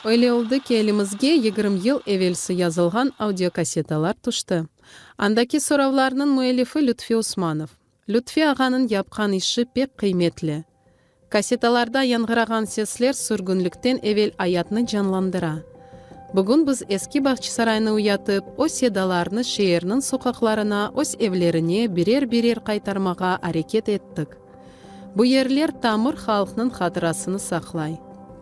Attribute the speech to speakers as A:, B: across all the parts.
A: Öyle oldı ki, elimizge yigirmi yıl evelsi yazılğan audiokasetalar tüşti. Andaki soravlarnıñ müellifi Lütfi Usmanov. Lütfi ağanıñ yapqan işi pek qıymetli. Kassetalarda yañğırağan sesler sürgünlikten evel ayatnı canlandıra. Bugün biz Eski Bağçısaraynı uyatıp, o sedalarnı şeerniñ soqaqlarına, öz evlerine birer-birer qaytarmağa areket ettik. Bu yerler tamır halqnıñ hatırasını saqlay.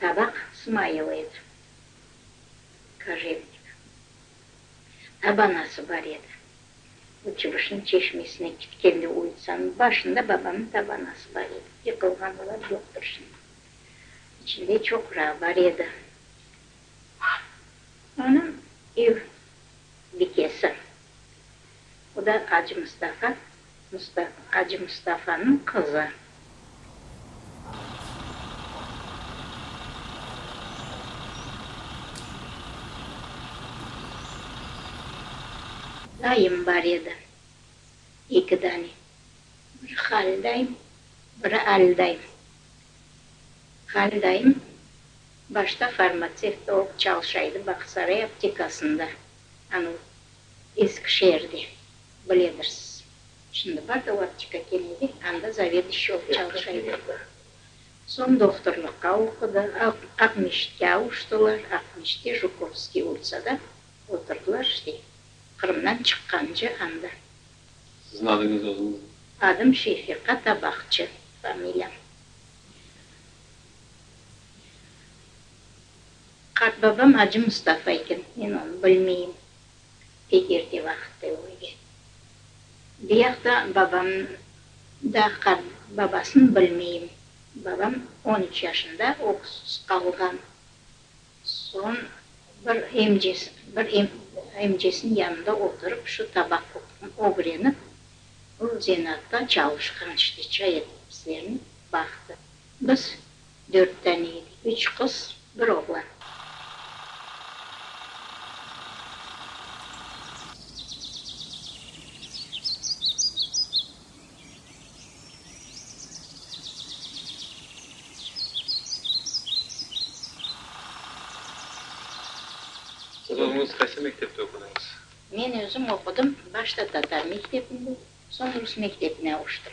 A: Tabaq smailıyıq, kojevnik. Tabanası bar edi. O Çıbışnıñ çeşmesine kitkende ulitsanıñ başında babamnıñ tabanası bar edi. Yıqılğan olar, yoqtır şimdi. İçinde çoqra bar edi. Onıñ ev bikesi O da Acı Mustafa, Acı Mustafanıñ qızı. Dayım bar edi, eki dane. Biri Hal dayım, biri Al dayım. Hal dayım başta farmatsevt olıp çalışaydı Baqsaray aptekasında. Anı Eskişehirde biledirsiz. Şimdi bar da aptika kemedi, anda zaveduşçi olıp çalışa edi. Soñ doktorlıqqa oqudı, Aqmescitke avuştılar, Aqmescitte Jukowskiy ulitsada oturdılar, işte, Qırımdan çıqqancı anda. Siziñ adıñız özüñiz? Adım Şefika Tabaqçı, familiyam. Qartbabam Acı Mustafa eken, men onı bilmeyim, dep erte vaqıtta ölgen. Buyaqta babam da qart babasın bilmeyim. Babam on üç yaşında öksüz qalğan. Soñ bir emcesi, bir emcesiniñ yanında oturıp şu tabaq qoquğını ögrenip, bu zenatta çalışqan işte, çay etip bizlerni baqtı. Biz Dört tane edi, üç qız, bir oğlan. Siz özüñiz qaysı mektepte oqudıñız? Men özüm oqudım, başta tatar mektebinde, soñ rus mektebine avuştım.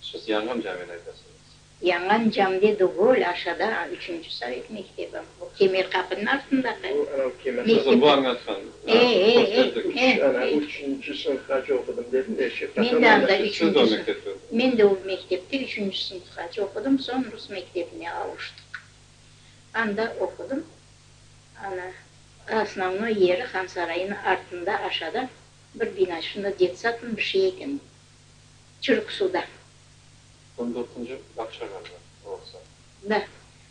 A: Siz Yanğan Camini aytasıñız. Yanğan Camide degül, aşağıda, üçünci sovet mektebi. O Kemer qapınıñ artındaki mektep. Siz bu añatqan. E, e, e, e. Üçünci sınıfqace oqudım dedim de. Men de anda üçünci sınıf. Men de o mektepte üçünci sınıfqace oqudım, soñ rus mektebine avuştıq. Anda oqudım. Ana, osnovnoy yeri Hansarayınıñ artında, aşağıda bir bina, şunda detsad mı, bir şey eken. çürük suda. On dörtünci bağça yolu orası. Da.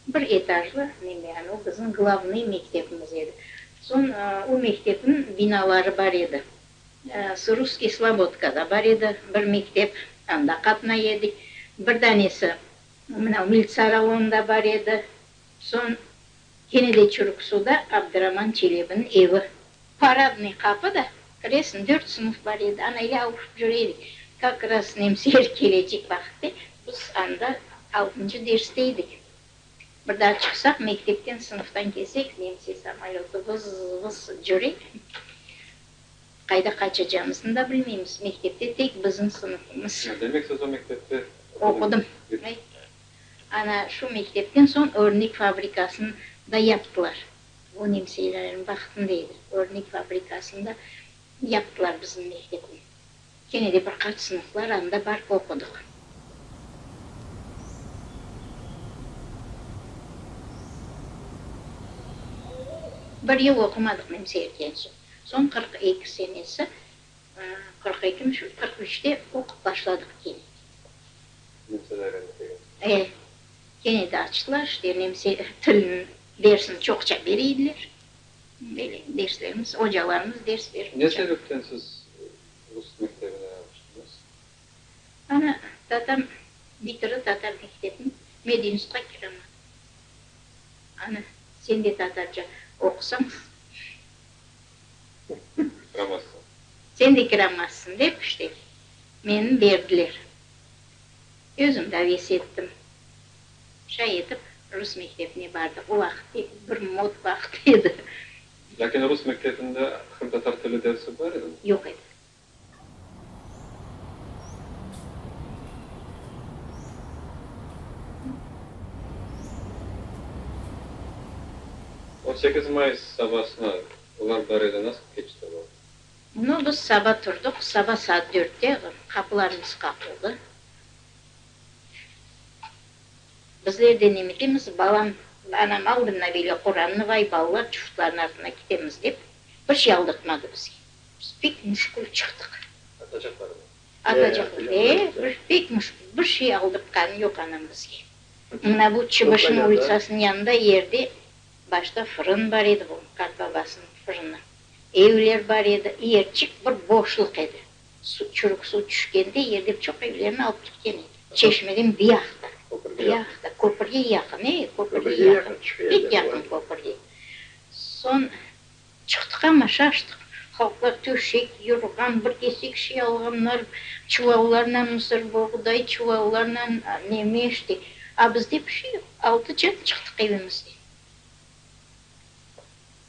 A: Bir etajlı, mende yani o bizim glavnıy mektebimiz edi. Soñ o mektebniñ binaları bar edi. S. Russkiy Slobodka da bar edi bir mektep, anda qatnay edik. Bir danesi mına Militsa rayonında bar edi. Soñ kene de çürük suda Abdıraman Çelebiniñ evi Paradnıy qapı da kiresin, dört sınıf bar edi, ana ele avuşıp jur edik. Kak raz nemsi el kelecek vaqitte, biz anda altıncı derste edik. Bir daa çıqsaq, mektepten, sınıftan kelsek, nemsi samolötı vız, vız jure. Qayda qaçacağımıznı da bilmeymiz, mektepte tek biziñ sınıfımız. Ya, demek siz o mektepte oqudıñ? Oqudım. Ana şu mektepten soñ örnek fabrikasını da yaptılar. O nemseyleriñ vaqtında edi. Örnek fabrikasında yaptılar bizim mektepni. Kene de bir qaç sınıflar anda barıp oqudıq. Bir yıl oqumadıq nemseylden soñ. Soñ qırq eki senesi, qırq eki mi şu, qırq üçte oqup başladıq kene. Nemseyler endi kene. E, kene de açtılar işte nemsey tilini. Dersni çoqça bere ediler. Böyle derslerimiz, ocalarımız ders berip Ne çaq. sebepten siz rus mektebine tüştüñiz? Ana tatam bitirdi tatar mektebin, Medinüsqa kiremedi. Ana, sen de tatarca oqusañ, Kiramazsıñ. sen de kiramazsıñ dep, işte, meni berdiler. Özüm daves ettim. Şay etip, rus mektebine bardı. O vaqıt bir mod vaqıt edi. Lâkin rus mektebinde hım tatar tili dersi bar edimi? Yoq edi. On sekiz may sabasına olar bar edi, nasıl keçti olar? Bunı biz saba turdıq, saba saat dörtte qapularımız qaqıldı. Bizler de nemetemiz, balam, anam aldı mına böyle Qurannı, vay, balalar çuftlarnıñ artına ketemiz, dep, bir şey aldatmadı bizge. Biz pek müşkül çıqtıq. Atacaqlarını. Atacaqlar, e, bir pek müşkül, bir şey aldatqanı yoq anam bizge. Mına bu Çıbışnıñ ulitsasınıñ yanında yerde başta fırın bar edi, bu qartbabasınıñ fırını, evler bar edi, yerçik bir boşluq edi. Suv çürük suv tüşkende yerden çoq evlerni alıp ketken edi. Çeşmeden bir yaqta, bir yaqta, köpürge yaqın, ey, köpürge yaqın, pek yaqın köpürge. Soñ çıqtıq ham aşağı aştıq. Halqlar töşek, yorğan, bir kesek şey alğanlar, çuvallarnen mısır, boğday çuvallarnen, neme işte. A bizde bir şey yoq. Altıcan çıqtıq evimizden.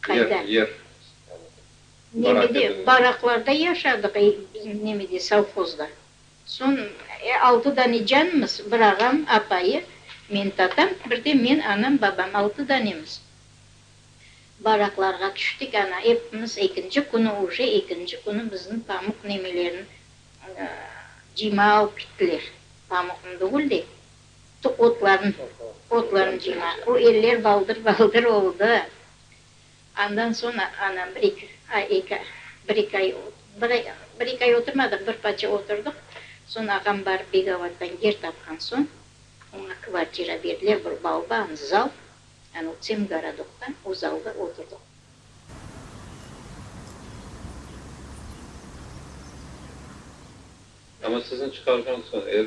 A: Qayda? Nemede, baraqlarda yaşadıq, nemede, sovhozda. Soñ, e, altı dane canımız, bir ağam, apayı, men, tatam, bir de men, anam, babam, altı danemiz. Baraqlarğa tüştik, ana, epimiz, ekinci künü, uje ekinci künü bizni pamuq nemelerin, cima alıp gittiler. Pamuqnı degil de, Tut otlarını, otlarını cıyma. O eller baldır-baldır oldı. Andan soñ anam bir-eki ay, eki, bir-eki ay, bir ay, bir-eki ay oturmadıq, bir parça oturdıq. Soñ ağam barıp Begavattan yer tapqan soñ, oña kvartira berdiler, bir balban, zal, yani o tsem gorodokta, o zalda oturdıq. Amma sizni çıqarğan soñ, er